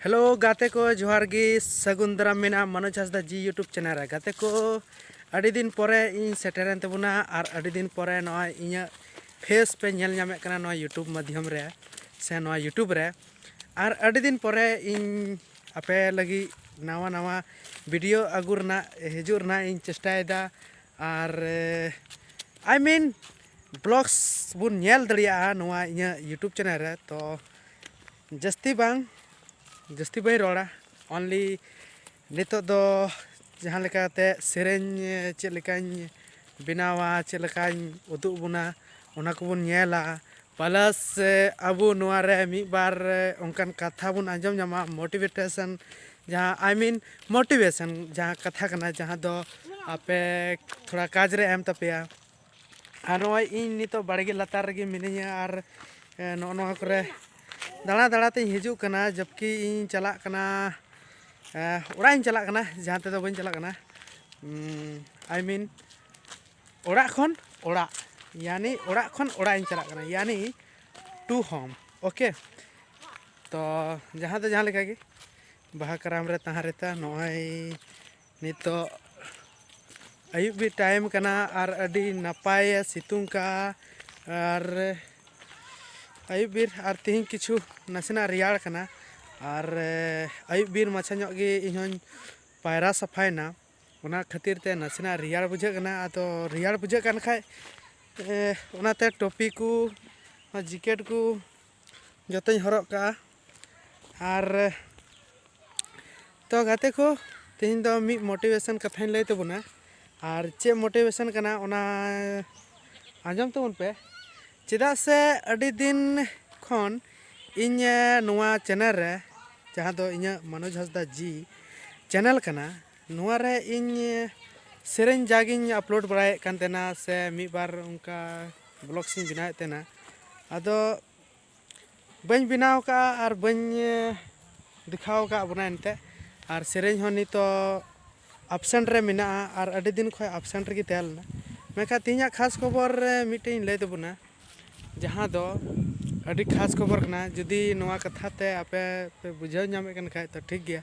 hello ᱜᱟᱛᱮ ᱠᱚ ᱡᱚᱦᱟᱨ ᱜᱮ ᱥᱟᱹᱜᱩᱱ ᱫᱟᱨᱟᱢ ᱢᱮᱱᱟᱜᱼᱟ ᱢᱟᱱᱚᱡᱽ ᱦᱟᱸᱥᱫᱟ ᱡᱤ ᱤᱭᱩᱴᱩᱵᱽ ᱪᱮᱱᱮᱞ ᱨᱮ ᱜᱟᱛᱮ ᱠᱚ ᱟᱹᱰᱤ ᱫᱤᱱ ᱯᱚᱨᱮ ᱤᱧ ᱥᱮᱴᱮᱨᱮᱱ ᱛᱟᱵᱚᱱᱟ ᱟᱨ ᱟᱹᱰᱤ ᱫᱤᱱ ᱯᱚᱨᱮ ᱱᱚᱜᱼᱚᱭ ᱤᱧᱟᱹᱜ ᱯᱷᱮᱥ ᱯᱮ ᱧᱮᱞ ᱧᱟᱢᱮᱫ ᱠᱟᱱᱟ ᱱᱚᱣᱟ ᱤᱭᱩᱴᱩᱵᱽ ᱢᱟᱫᱽᱫᱷᱚᱢ ᱨᱮ ᱥᱮ ᱱᱚᱣᱟ ᱤᱭᱩᱴᱩᱵᱽ ᱨᱮ ᱟᱨ ᱟᱹᱰᱤ ᱫᱤᱱ ᱯᱚᱨᱮ ᱤᱧ ᱟᱯᱮ ᱞᱟᱹᱜᱤᱫ ᱱᱟᱣᱟ ᱱᱟᱣᱟ ᱵᱷᱤᱰᱤᱭᱳ ᱟᱹᱜᱩ ᱨᱮᱱᱟᱜ ᱦᱤᱡᱩᱜ ᱨᱮᱱᱟᱜ ᱤᱧ ᱪᱮᱥᱴᱟᱭᱮᱫᱟ ᱟᱨ ᱟᱭ ᱢᱤᱱ ᱵᱞᱚᱜᱽᱥ ᱵᱚᱱ ᱧᱮᱞ ᱫᱟᱲᱮᱭᱟᱜᱼᱟ ᱱᱚᱣᱟ ᱤᱧᱟᱹᱜ ᱤᱭᱩᱴᱩᱵᱽ ᱪᱮᱱᱮᱞ ᱨᱮ ᱛᱚ ᱡᱟᱹᱥᱛᱤ ᱵᱟᱝ ᱡᱟᱹᱥᱛᱤ ᱵᱟᱹᱧ ᱨᱚᱲᱟ ᱚᱱᱞᱤ ᱱᱤᱛᱚᱜ ᱫᱚ ᱡᱟᱦᱟᱸ ᱞᱮᱠᱟᱛᱮ ᱥᱮᱨᱮᱧ ᱪᱮᱫ ᱞᱮᱠᱟᱧ ᱵᱮᱱᱟᱣᱟ ᱪᱮᱫ ᱞᱮᱠᱟᱧ ᱩᱫᱩᱜ ᱟᱵᱚᱱᱟ ᱚᱱᱟ ᱠᱚᱵᱚᱱ ᱧᱮᱞᱟ ᱯᱞᱟᱥ ᱟᱵᱚ ᱱᱚᱣᱟ ᱨᱮ ᱢᱤᱫ ᱵᱟᱨ ᱚᱱᱠᱟᱱ ᱠᱟᱛᱷᱟ ᱵᱚᱱ ᱟᱸᱡᱚᱢ ᱧᱟᱢᱟ ᱢᱳᱴᱤᱵᱷᱮᱴᱮᱥᱮᱱ ᱡᱟᱦᱟᱸ ᱟᱭ ᱢᱤᱱ ᱢᱳᱴᱤᱵᱷᱮᱥᱮᱱ ᱡᱟᱦᱟᱸ ᱠᱟᱛᱷᱟ ᱠᱟᱱᱟ ᱡᱟᱦᱟᱸ ᱫᱚ ᱟᱯᱮ ᱛᱷᱚᱲᱟ ᱠᱟᱡᱽ ᱨᱮ ᱮᱢ ᱛᱟᱯᱮᱭᱟ ᱟᱨ ᱱᱚᱜᱼᱚᱭ ᱤᱧ ᱱᱤᱛᱚᱜ ᱵᱟᱲᱜᱮ ᱞᱟᱛᱟᱨ ᱨᱮᱜᱮ ᱢᱤᱱᱟᱹᱧᱟ ᱟᱨ ᱱᱚᱜᱼᱚ ᱱᱚᱣᱟ ᱠᱚᱨᱮ ᱫᱟᱬᱟ ᱫᱟᱬᱟ ᱛᱤᱧ ᱦᱤᱡᱩᱜ ᱠᱟᱱᱟ ᱡᱚᱵᱠᱤ ᱤᱧ ᱪᱟᱞᱟᱜ ᱠᱟᱱᱟ ᱚᱲᱟᱜ ᱤᱧ ᱪᱟᱞᱟᱜ ᱠᱟᱱᱟ ᱡᱟᱦᱟᱸ ᱛᱮᱫᱚ ᱵᱟᱹᱧ ᱪᱟᱞᱟᱜ ᱠᱟᱱᱟ ᱟᱭ ᱢᱤᱱ ᱚᱲᱟᱜ ᱠᱷᱚᱱ ᱚᱲᱟᱜ ᱭᱟᱱᱤ ᱚᱲᱟᱜ ᱠᱷᱚᱱ ᱚᱲᱟᱜ ᱤᱧ ᱪᱟᱞᱟᱜ ᱠᱟᱱᱟ ᱭᱟᱱᱤ ᱴᱩ ᱦᱳᱢ ᱳᱠᱮ ᱛᱚ ᱡᱟᱦᱟᱸ ᱫᱚ ᱡᱟᱦᱟᱸ ᱞᱮᱠᱟᱜᱮ ᱵᱟᱦᱟ ᱠᱟᱨᱟᱢ ᱨᱮ ᱛᱟᱦᱮᱸ ᱨᱮᱛᱟ ᱱᱚᱜᱼᱚᱭ ᱱᱤᱛᱚᱜ ᱟᱹᱭᱩᱵ ᱵᱮᱲ ᱴᱟᱭᱤᱢ ᱠᱟᱱᱟ ᱟᱨ ᱟᱹᱰᱤ ᱱᱟᱯᱟᱭᱮ ᱥᱤᱛᱩᱝ ᱠᱟᱜᱼᱟ ᱟᱨ ᱟᱹᱭᱩᱵ ᱵᱮᱲ ᱟᱨ ᱛᱤᱦᱤᱧ ᱠᱤᱪᱷᱩ ᱱᱟᱥᱮᱱᱟᱜ ᱨᱮᱭᱟᱲ ᱠᱟᱱᱟ ᱟᱨ ᱟᱹᱭᱩᱵ ᱵᱮᱲ ᱢᱟᱪᱷᱟ ᱧᱚᱜ ᱜᱮ ᱤᱧ ᱦᱚᱸᱧ ᱯᱟᱭᱨᱟ ᱥᱟᱯᱷᱟᱭᱮᱱᱟ ᱚᱱᱟ ᱠᱷᱟᱹᱛᱤᱨ ᱛᱮ ᱱᱟᱥᱮᱱᱟᱜ ᱨᱮᱭᱟᱲ ᱵᱩᱡᱷᱟᱹᱜ ᱠᱟᱱᱟ ᱟᱫᱚ ᱨᱮᱭᱟᱲ ᱵᱩᱡᱷᱟᱹᱜ ᱠᱟᱱ ᱠᱷᱟᱡ ᱚᱱᱟᱛᱮ ᱴᱩᱯᱤ ᱠᱚ ᱡᱮᱠᱮᱴ ᱠᱚ ᱡᱚᱛᱚᱧ ᱦᱚᱨᱚᱜ ᱠᱟᱜᱼᱟ ᱟᱨ ᱛᱚ ᱜᱟᱛᱮ ᱠᱚ ᱛᱮᱦᱮᱧ ᱫᱚ ᱢᱤᱫ ᱢᱳᱴᱤᱵᱷᱮᱥᱚᱱ ᱠᱟᱛᱷᱟᱧ ᱞᱟᱹᱭ ᱛᱟᱵᱚᱱᱟ ᱟᱨ ᱪᱮᱫ ᱢᱳᱴᱤᱵᱷᱮᱥᱚᱱ ᱠᱟᱱᱟ ᱚᱱᱟ ᱟᱸᱡᱚᱢ ᱛᱟᱵᱚᱱ ᱯᱮ ᱪᱮᱫᱟᱜ ᱥᱮ ᱟᱹᱰᱤ ᱫᱤᱱ ᱠᱷᱚᱱ ᱤᱧ ᱱᱚᱣᱟ ᱪᱮᱱᱮᱞ ᱨᱮ ᱡᱟᱦᱟᱸ ᱫᱚ ᱤᱧᱟᱹᱜ ᱢᱟᱱᱚᱡᱽ ᱦᱟᱸᱥᱫᱟ ᱡᱤ ᱪᱮᱱᱮᱞ ᱠᱟᱱᱟ ᱱᱚᱣᱟ ᱨᱮ ᱤᱧ ᱥᱮᱨᱮᱧ ᱡᱟᱜᱤᱧ ᱟᱯᱞᱳᱰ ᱵᱟᱲᱟᱭᱮᱫ ᱠᱟᱱ ᱛᱟᱦᱮᱱᱟ ᱥᱮ ᱢᱤᱫ ᱵᱟᱨ ᱚᱱᱠᱟ ᱵᱞᱚᱜᱥ ᱤᱧ ᱵᱮᱱᱟᱣᱮᱫ ᱛᱟᱦᱮᱱᱟ ᱟᱫᱚ ᱵᱟᱹᱧ ᱵᱮᱱᱟᱣ ᱠᱟᱜᱼᱟ ᱟᱨ ᱵᱟᱹᱧ ᱫᱮᱠᱷᱟᱣ ᱠᱟᱜ ᱵᱚᱱᱟ ᱮᱱᱛᱮᱫ ᱟᱨ ᱥᱮᱨᱮᱧ ᱦᱚᱸ ᱱᱤᱛᱚᱜ ᱟᱯᱥᱮᱱᱴ ᱨᱮ ᱢᱮᱱᱟᱜᱼᱟ ᱟᱨ ᱟᱹᱰᱤ ᱫᱤᱱ ᱠᱷᱚᱱ ᱟᱯᱥᱮᱱᱴ ᱨᱮᱜᱮ ᱛᱟᱦᱮᱸ ᱞᱮᱱᱟ ᱢᱮᱱᱠᱷᱟᱱ ᱛᱮᱦᱮᱧᱟᱜ ᱠᱷᱟᱥ ᱠᱷᱚᱵᱚᱨ ᱨᱮ ᱢᱤᱫᱴᱮᱱ ᱤᱧ ᱞᱟᱹᱭ ᱛᱟᱵᱚᱱᱟ ᱡᱟᱦᱟᱸ ᱫᱚ ᱟᱹᱰᱤ ᱠᱷᱟᱥ ᱠᱷᱚᱵᱚᱨ ᱠᱟᱱᱟ ᱡᱩᱫᱤ ᱱᱚᱣᱟ ᱠᱟᱛᱷᱟ ᱛᱮ ᱟᱯᱮ ᱯᱮ ᱵᱩᱡᱷᱟᱹᱣ ᱧᱟᱢᱮᱫ ᱠᱟᱱ ᱠᱷᱟᱡ ᱛᱚ ᱴᱷᱤᱠ ᱜᱮᱭᱟ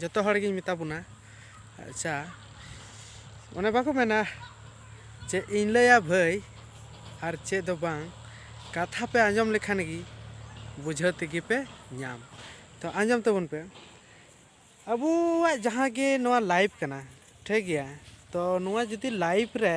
ᱡᱚᱛᱚ ᱦᱚᱲ ᱜᱤᱧ ᱢᱮᱛᱟ ᱵᱚᱱᱟ ᱟᱪᱪᱷᱟ ᱚᱱᱮ ᱵᱟᱠᱚ ᱢᱮᱱᱟ ᱪᱮᱫ ᱤᱧ ᱞᱟᱹᱭᱟ ᱵᱷᱟᱹᱭ ᱟᱨ ᱪᱮᱫ ᱫᱚ ᱵᱟᱝ ᱠᱟᱛᱷᱟ ᱯᱮ ᱟᱸᱡᱚᱢ ᱞᱮᱠᱷᱟᱱ ᱜᱮ ᱵᱩᱡᱷᱟᱹᱣ ᱛᱮᱜᱮ ᱯᱮ ᱧᱟᱢ ᱛᱚ ᱟᱸᱡᱚᱢ ᱛᱟᱵᱚᱱ ᱯᱮ ᱟᱵᱚᱣᱟᱜ ᱡᱟᱦᱟᱸ ᱜᱮ ᱱᱚᱣᱟ ᱞᱟᱭᱤᱯᱷ ᱠᱟᱱᱟ ᱴᱷᱤᱠ ᱜᱮᱭᱟ ᱛᱚ ᱱᱚᱣᱟ ᱡᱩᱫᱤ ᱞᱟᱭᱤᱯᱷ ᱨᱮ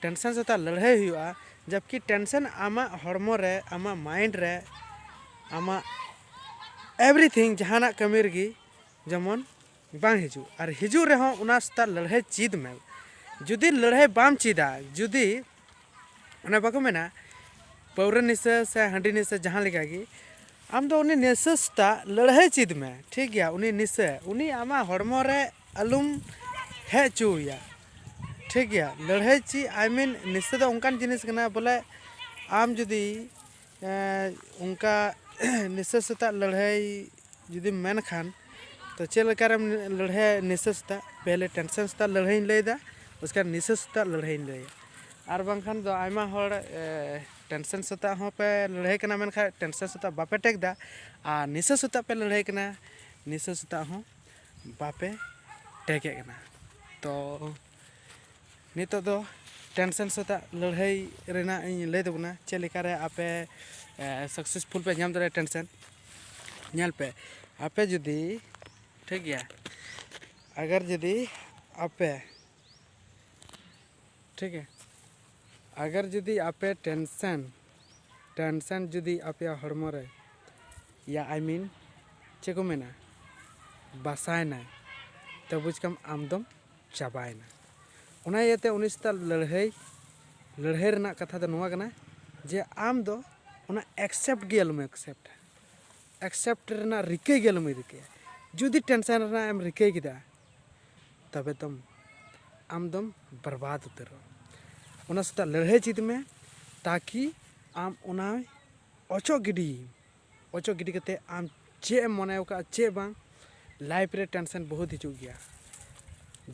ᱴᱮᱱᱥᱮᱱ ᱥᱟᱛᱮ ᱞᱟᱹᱲᱦᱟᱹᱭ ᱦᱩᱭᱩᱜᱼᱟ ᱡᱟᱵᱠᱤ ᱴᱮᱱᱥᱮᱱ ᱟᱢᱟᱜ ᱦᱚᱲᱢᱚ ᱨᱮ ᱟᱢᱟᱜ ᱢᱟᱭᱤᱱᱰ ᱨᱮ ᱟᱢᱟᱜ ᱮᱵᱷᱨᱤᱛᱷᱤᱝ ᱡᱟᱦᱟᱱᱟᱜ ᱠᱟᱹᱢᱤ ᱨᱮᱜᱮ ᱡᱮᱢᱚᱱ ᱵᱟᱝ ᱦᱤᱡᱩᱜ ᱟᱨ ᱦᱤᱡᱩᱜ ᱨᱮᱦᱚᱸ ᱚᱱᱟ ᱥᱟᱛᱮ ᱞᱟᱹᱲᱦᱟᱹᱭ ᱪᱮᱫ ᱢᱮ ᱡᱩᱫᱤ ᱞᱟᱹᱲᱦᱟᱹᱭ ᱵᱟᱢ ᱪᱮᱫᱟ ᱡᱩᱫᱤ ᱚᱱᱮ ᱵᱟᱠᱚ ᱢᱮᱱᱟ ᱯᱟᱹᱣᱨᱟᱹ ᱱᱤᱥᱟᱹ ᱥᱮ ᱦᱟᱺᱰᱤ ᱱᱤᱥᱟᱹ ᱡᱟᱦᱟᱸ ᱞᱮᱠᱟ ᱜᱮ ᱟᱢ ᱫᱚ ᱩᱱᱤ ᱱᱤᱥᱟᱹ ᱥᱛᱟᱜ ᱞᱟᱹᱲᱦᱟᱹᱭ ᱪᱤᱫ ᱢᱮ ᱴᱷᱤᱠ ᱜᱮᱭᱟ ᱩᱱᱤ ᱱᱤᱥᱟᱹ ᱩᱱᱤ ᱟᱢᱟᱜ ᱦᱚᱲᱢᱚ ᱨᱮ ᱟᱞᱩᱢ ᱦᱮᱡ ᱚᱪᱚ ᱟᱭᱟ ᱴᱷᱤᱠ ᱜᱮᱭᱟ ᱞᱟᱹᱲᱦᱟᱹᱭ ᱪᱤᱫ ᱟᱭ ᱢᱤᱱ ᱱᱤᱥᱟᱹ ᱫᱚ ᱚᱱᱠᱟᱱ ᱡᱤᱱᱤᱥ ᱠᱟᱱᱟ ᱵᱚᱞᱮ ᱟᱢ ᱡᱩᱫᱤ ᱚᱱᱠᱟ ᱱᱤᱥᱟᱹ ᱥᱟᱛᱟᱜ ᱞᱟᱹᱲᱦᱟᱹᱭ ᱡᱩᱫᱤᱢ ᱢᱮᱱ ᱠᱷᱟᱱ ᱛᱚ ᱪᱮᱫ ᱞᱮᱠᱟ ᱨᱮᱢ ᱞᱟᱹᱲᱦᱟᱹᱭᱟ ᱱᱤᱥᱟᱹ ᱥᱟᱛᱟᱜ ᱯᱮᱦᱞᱮ ᱴᱮᱱᱥᱮᱱ ᱥᱟᱛᱟᱜ ᱞᱟᱹᱲᱦᱟᱹᱭᱤᱧ ᱞᱟᱹᱭᱮᱫᱟ ᱩᱥᱠᱮ ᱵᱟᱫ ᱱᱤᱥᱟᱹ ᱥᱟᱛᱟᱜ ᱞᱟᱹᱲᱦᱟᱹᱭᱤᱧ ᱞᱟᱹᱭᱮᱫᱟ ᱟᱨ ᱵᱟᱝᱠᱷᱟᱱ ᱫᱚ ᱟᱭᱢᱟ ᱦᱚᱲ ᱴᱮᱱᱥᱮᱱ ᱥᱟᱛᱟᱜ ᱦᱚᱸ ᱯᱮ ᱞᱟᱹᱲᱦᱟᱹᱭ ᱠᱟᱱᱟ ᱢᱮᱱᱠᱷᱟᱱ ᱴᱮᱱᱥᱮᱱ ᱥᱟᱛᱟᱜ ᱵᱟᱯᱮ ᱴᱮᱠ ᱫᱟ ᱟᱨ ᱱᱤᱥᱟᱹ ᱥᱟᱛᱟᱜ ᱯᱮ ᱞᱟᱹᱲᱦᱟᱹᱭ ᱠᱟᱱᱟ ᱱᱤᱥᱟᱹ ᱥᱟᱛᱟᱜ ᱦᱚᱸ ᱵᱟᱯᱮ ᱴᱮᱠᱮᱫ ᱠᱟᱱᱟ ᱛᱚ ᱱᱤᱛᱚᱜ ᱫᱚ ᱴᱮᱱᱥᱮᱱ ᱥᱟᱛᱟᱜ ᱞᱟᱹᱲᱦᱟᱹᱭ ᱨᱮᱱᱟᱜ ᱤᱧ ᱞᱟᱹᱭ ᱛᱟᱵᱚᱱᱟ ᱪᱮᱫ ᱞᱮᱠᱟᱨᱮ ᱟᱯᱮ ᱥᱟᱠᱥᱮᱥᱯᱷᱩᱞ ᱯᱮ ᱧᱟᱢ ᱫᱟᱲᱮᱭᱟᱜᱼᱟ ᱴᱮᱱᱥᱮᱱ ᱧᱮᱞ ᱯᱮ ᱟᱯᱮ ᱡᱩᱫᱤ ᱴᱷᱤᱠ ᱜᱮᱭᱟ ᱟᱜᱟᱨ ᱡᱩᱫᱤ ᱟᱯᱮ ᱴᱷᱤᱠ ᱦᱮ ᱟᱜᱟᱨ ᱡᱩᱫᱤ ᱟᱯᱮ ᱴᱮᱱᱥᱮᱱ ᱴᱮᱱᱥᱮᱱ ᱡᱩᱫᱤ ᱟᱯᱮᱭᱟᱜ ᱦᱚᱲᱢᱚ ᱨᱮ ᱭᱟ ᱟᱭ ᱢᱤᱱ ᱪᱮᱫ ᱠᱚ ᱢᱮᱱᱟ ᱵᱟᱥᱟᱭᱮᱱᱟᱭ ᱛᱚ ᱵᱩᱡᱽ ᱠᱟᱢ ᱟᱢ ᱫᱚᱢ ᱪᱟᱵᱟᱭᱮᱱᱟ ᱚᱱᱟ ᱤᱭᱟᱹᱛᱮ ᱩᱱᱤ ᱥᱮᱛᱟᱜ ᱞᱟᱹᱲᱦᱟᱹᱭ ᱞᱟᱹᱲᱦᱟᱹᱭ ᱨᱮᱱᱟᱜ ᱠᱟᱛᱷᱟ ᱫᱚ ᱱᱚᱣᱟ ᱠᱟᱱᱟ ᱡᱮ ᱟᱢ ᱫᱚ ᱚᱱᱟ ᱮᱠᱥᱮᱯᱴ ᱜᱮ ᱟᱞᱚᱢ ᱮᱠᱥᱮᱯᱴᱟ ᱮᱠᱥᱮᱯᱴ ᱨᱮᱱᱟᱜ ᱨᱤᱠᱟᱹᱭ ᱜᱮ ᱟᱞᱚᱢ ᱨᱤᱠᱟᱹᱭᱟ ᱡᱩᱫᱤ ᱴᱮᱱᱥᱮᱱ ᱨᱮᱱᱟᱜ ᱮᱢ ᱨᱤᱠᱟᱹᱭ ᱠᱮᱫᱟ ᱛᱚᱵᱮ ᱫᱚᱢ ᱟᱢ ᱫᱚᱢ ᱵᱚᱨᱵᱟᱫᱽ ᱩᱛᱟᱹᱨᱚᱜᱼᱟ ᱚᱱᱟ ᱥᱟᱛᱮ ᱞᱟᱹᱲᱦᱟᱹᱭ ᱪᱮᱫ ᱢᱮ ᱛᱟᱠᱤ ᱟᱢ ᱚᱱᱟᱭ ᱚᱪᱚᱜ ᱜᱤᱰᱤ ᱚᱪᱚᱜ ᱜᱤᱰᱤ ᱠᱟᱛᱮ ᱟᱢ ᱪᱮᱫ ᱮᱢ ᱢᱚᱱᱮᱣ ᱠᱟᱜᱼᱟ ᱪᱮᱫ ᱵᱟᱝ ᱞᱟᱭᱤᱯᱷ ᱨᱮ ᱴᱮᱱᱥᱮᱱ ᱵᱚᱦᱩᱛ ᱦᱤᱡᱩᱜ ᱜᱮᱭᱟ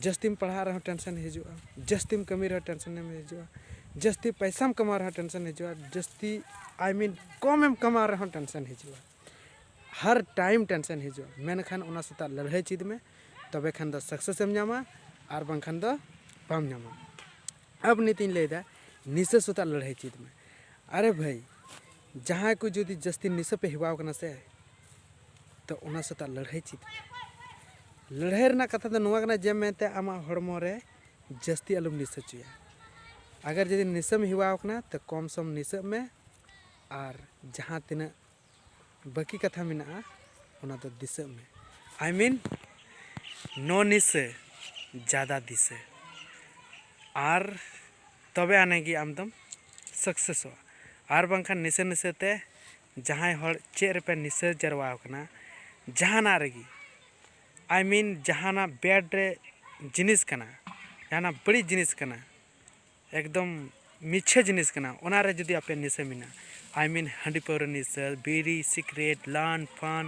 ᱡᱟᱹᱥᱛᱤᱢ ᱯᱟᱲᱦᱟᱜ ᱨᱮᱦᱚᱸ ᱴᱮᱱᱥᱮᱱ ᱦᱤᱡᱩᱜᱼᱟ ᱡᱟᱹᱥᱛᱤᱢ ᱠᱟᱹᱢᱤ ᱨᱮᱦᱚᱸ ᱴᱮᱱᱥᱮᱱ ᱮᱢ ᱦᱤᱡᱩᱜᱼᱟ ᱡᱟᱹᱥᱛᱤ ᱯᱚᱭᱥᱟᱢ ᱠᱟᱢᱟᱣ ᱨᱮᱦᱚᱸ ᱴᱮᱱᱥᱮᱱ ᱦᱤᱡᱩᱜᱼᱟ ᱡᱟᱹᱥᱛᱤ ᱟᱭ ᱢᱤᱱ ᱠᱚᱢᱮᱢ ᱠᱟᱢᱟᱣ ᱨᱮᱦᱚᱸ ᱴᱮᱱᱥᱮᱱ ᱦᱤᱡᱩᱜᱼᱟ ᱦᱟᱨ ᱴᱟᱭᱤᱢ ᱴᱮᱱᱥᱮᱱ ᱦᱤᱡᱩᱜᱼᱟ ᱢᱮᱱᱠᱷᱟᱱ ᱚᱱᱟ ᱥᱮᱛᱟᱜ ᱞᱟᱹᱲᱦᱟᱹᱭ ᱪᱮᱫ ᱢᱮ ᱛᱚᱵᱮ ᱠᱷᱟᱱ ᱫᱚ ᱥᱟᱠᱥᱮᱥ ᱮᱢ ᱧᱟᱢᱟ ᱟᱨ ᱵᱟᱝᱠᱷᱟᱱ ᱫᱚ ᱵᱟᱢ ᱧᱟᱢᱟ ᱟᱵ ᱱᱤᱛᱤᱧ ᱞᱟᱹᱭᱫᱟ ᱱᱤᱥᱟᱹ ᱥᱮᱛᱟᱜ ᱞᱟᱹᱲᱦᱟᱹᱭ ᱪᱮᱫ ᱢᱮ ᱟᱨᱮ ᱵᱷᱟᱹᱭ ᱡᱟᱦᱟᱸᱭ ᱠᱚ ᱡᱩᱫᱤ ᱡᱟᱹᱥᱛᱤ ᱱᱤᱥᱟᱹ ᱯᱮ ᱦᱮᱣᱟᱣ ᱠᱟᱱᱟ ᱥᱮ ᱛᱚ ᱚᱱᱟ ᱥᱟᱛᱟᱜ ᱞᱟᱹᱲᱦᱟᱹᱭ ᱪᱮᱫ ᱞᱟᱹᱲᱦᱟᱹᱭ ᱨᱮᱱᱟᱜ ᱠᱟᱛᱷᱟ ᱫᱚ ᱱᱚᱣᱟ ᱠᱟᱱᱟ ᱡᱮ ᱢᱮᱱᱛᱮ ᱟᱢᱟᱜ ᱦᱚᱲᱢᱚ ᱨᱮ ᱡᱟᱹᱥᱛᱤ ᱟᱞᱚᱢ ᱱᱤᱥᱟᱹ ᱦᱚᱪᱚᱭᱟ ᱟᱜᱟᱨ ᱡᱩᱫᱤ ᱱᱤᱥᱟᱹᱢ ᱦᱮᱣᱟ ᱟᱠᱟᱱᱟ ᱛᱚ ᱠᱚᱢ ᱥᱚᱢ ᱱᱤᱥᱟᱹᱜ ᱢᱮ ᱟᱨ ᱡᱟᱦᱟᱸ ᱛᱤᱱᱟᱹᱜ ᱵᱟᱹᱠᱤ ᱠᱟᱛᱷᱟ ᱢᱮᱱᱟᱜᱼᱟ ᱚᱱᱟ ᱫᱚ ᱫᱤᱥᱟᱹᱜ ᱢᱮ ᱟᱭ ᱢᱤᱱ ᱱᱚ ᱱᱤᱥᱟᱹ ᱡᱟᱫᱟ ᱫᱤᱥᱟᱹ ᱟᱨ ᱛᱚᱵᱮ ᱟᱹᱱᱤᱡ ᱜᱮ ᱟᱢ ᱫᱚᱢ ᱥᱟᱠᱥᱮᱥᱚᱜᱼᱟ ᱟᱨ ᱵᱟᱝᱠᱷᱟᱱ ᱱᱤᱥᱟᱹ ᱱᱤᱥᱟᱹ ᱛᱮ ᱡᱟᱦᱟᱸᱭ ᱦᱚᱲ ᱪᱮᱫ ᱨᱮᱯᱮ ᱱᱤᱥᱟᱹ ᱡᱟᱨᱣᱟ ᱟᱠᱟᱱᱟ ᱡᱟᱦᱟᱱᱟᱜ ᱨᱮᱜᱮ ᱟᱭ ᱢᱤᱱ ᱡᱟᱦᱟᱱᱟᱜ ᱵᱮᱰ ᱨᱮ ᱡᱤᱱᱤᱥ ᱠᱟᱱᱟ ᱡᱟᱦᱟᱱᱟᱜ ᱵᱟᱹᱲᱤᱡ ᱡᱤᱱᱤᱥ ᱠᱟᱱᱟ ᱮᱠᱫᱚᱢ ᱢᱤᱪᱷᱟᱹ ᱡᱤᱱᱤᱥ ᱠᱟᱱᱟ ᱚᱱᱟ ᱨᱮ ᱡᱩᱫᱤ ᱟᱯᱮ ᱱᱤᱥᱟᱹ ᱢᱮᱱᱟᱜᱼᱟ ᱟᱭ ᱢᱤᱱ ᱦᱟᱺᱰᱤ ᱯᱟᱹᱣᱨᱟᱹ ᱱᱤᱥᱟᱹ ᱵᱤᱲᱤ ᱥᱤᱠᱨᱮᱴ ᱞᱟᱱ ᱯᱷᱟᱱ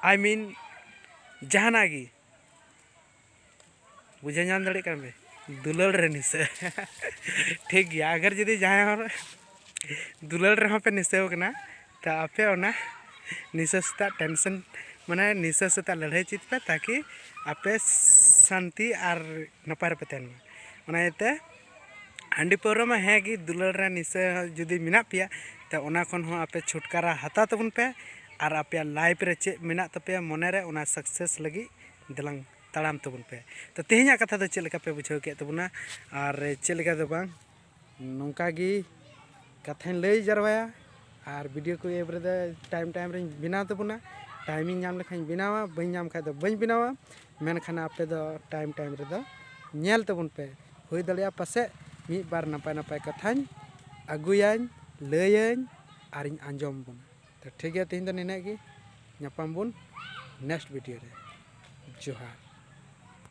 ᱟᱭ ᱢᱤᱱ ᱡᱟᱦᱟᱱᱟᱜ ᱜᱮ ᱵᱩᱡᱷᱟᱹᱣ ᱧᱟᱢ ᱫᱟᱲᱮᱭᱟᱜ ᱠᱟᱱ ᱯᱮ ᱫᱩᱞᱟᱹᱲ ᱨᱮ ᱱᱤᱥᱟᱹ ᱴᱷᱤᱠ ᱜᱮᱭᱟ ᱟᱜᱟᱨ ᱡᱩᱫᱤ ᱡᱟᱦᱟᱸᱭ ᱦᱚᱲ ᱫᱩᱞᱟᱹᱲ ᱨᱮᱦᱚᱸ ᱯᱮ ᱱᱤᱥᱟᱹᱣ ᱠᱟᱱᱟ ᱛᱟ ᱟᱯᱮ ᱚᱱᱟ ᱱᱤᱥᱟᱹ ᱥᱮᱛᱟᱜ ᱴᱮᱱᱥᱮᱱ ᱢᱟᱱᱮ ᱱᱤᱥᱟᱹ ᱥᱮᱛᱟᱜ ᱞᱟᱹᱲᱦᱟᱹᱭ ᱪᱮᱫ ᱯᱮ ᱛᱟᱠᱤ ᱟᱯᱮ ᱥᱟᱱᱛᱤ ᱟᱨ ᱱᱟᱯᱟᱭ ᱨᱮᱯᱮ ᱛᱟᱦᱮᱱ ᱢᱟ ᱚᱱᱟ ᱤᱭᱟᱹᱛᱮ ᱦᱟᱺᱰᱤ ᱯᱟᱹᱣᱨᱟᱹ ᱢᱟ ᱦᱮᱸ ᱜᱮ ᱫᱩᱞᱟᱹᱲ ᱨᱮ ᱱᱤᱥᱟᱹ ᱡᱩᱫᱤ ᱢᱮᱱᱟᱜ ᱯᱮᱭᱟ ᱛᱚ ᱚᱱᱟ ᱠᱷᱚᱱ ᱦᱚᱸ ᱟᱯᱮ ᱪᱷᱩᱴᱠᱟᱨᱟ ᱦᱟᱛᱟᱣ ᱛᱟᱵᱚᱱ ᱯᱮ ᱟᱨ ᱟᱯᱮᱭᱟᱜ ᱞᱟᱭᱤᱯᱷ ᱨᱮ ᱪᱮᱫ ᱢᱮᱱᱟᱜ ᱛᱟᱯᱮᱭᱟ ᱢᱚᱱᱮ ᱨᱮ ᱚᱱᱟ ᱥᱟᱠᱥᱮᱥ ᱞᱟᱹᱜᱤᱫ ᱫᱮᱞᱟᱝ ᱛᱟᱲᱟᱢ ᱛᱟᱵᱚᱱ ᱯᱮ ᱛᱚ ᱛᱮᱦᱮᱧᱟᱜ ᱠᱟᱛᱷᱟ ᱫᱚ ᱪᱮᱫ ᱞᱮᱠᱟ ᱯᱮ ᱵᱩᱡᱷᱟᱹᱣ ᱠᱮᱫ ᱛᱟᱵᱚᱱᱟ ᱟᱨ ᱪᱮᱫ ᱞᱮᱠᱟ ᱫᱚ ᱵᱟᱝ ᱱᱚᱝᱠᱟ ᱜᱮ ᱠᱟᱛᱷᱟᱧ ᱞᱟᱹᱭ ᱡᱟᱨᱣᱟᱭᱟ ᱟᱨ ᱵᱷᱤᱰᱤᱭᱳ ᱠᱚ ᱮᱯ ᱨᱮᱫᱚ ᱴᱟᱭᱤᱢ ᱴᱟᱭᱤᱢ ᱨᱤᱧ ᱵᱮᱱᱟᱣ ᱛᱟᱵᱚᱱᱟ ᱴᱟᱭᱤᱢᱤᱧ ᱧᱟᱢ ᱞᱮᱠᱷᱟᱱ ᱵᱮᱱᱟᱣᱟ ᱵᱟᱹᱧ ᱧᱟᱢ ᱠᱷᱟᱱ ᱫᱚ ᱵᱟᱹᱧ ᱵᱮᱱᱟᱣᱟ ᱢᱮᱱᱠᱷᱟᱱ ᱟᱯᱮ ᱫᱚ ᱴᱟᱭᱤᱢ ᱴᱟᱭᱤᱢ ᱨᱮᱫᱚ ᱧᱮᱞ ᱛᱟᱵᱚᱱ ᱯᱮ ᱦᱩᱭ ᱫᱟᱲᱮᱭᱟᱜᱼᱟ ᱯᱟᱥᱮᱡ ᱢᱤᱫ ᱵᱟᱨ ᱱᱟᱯᱟᱭ ᱱᱟᱯᱟᱭ ᱠᱟᱛᱷᱟᱧ ᱟᱹᱜᱩᱭᱟᱹᱧ ᱞᱟᱹᱭᱟᱹᱧ ᱟᱨᱤᱧ ᱟᱸᱡᱚᱢ ᱵᱚᱱᱟ ᱛᱚ ᱴᱷᱤᱠ ᱜᱮᱭᱟ ᱛᱮᱦᱮᱧ ᱫᱚ ᱱᱤᱱᱟᱹᱜ ᱜᱮ ᱧᱟᱯᱟᱢ ᱵᱚᱱ ᱱᱮᱠᱥᱴ ᱵᱷᱤᱰᱤᱭᱳ ᱨᱮ ᱡᱚᱦᱟᱨ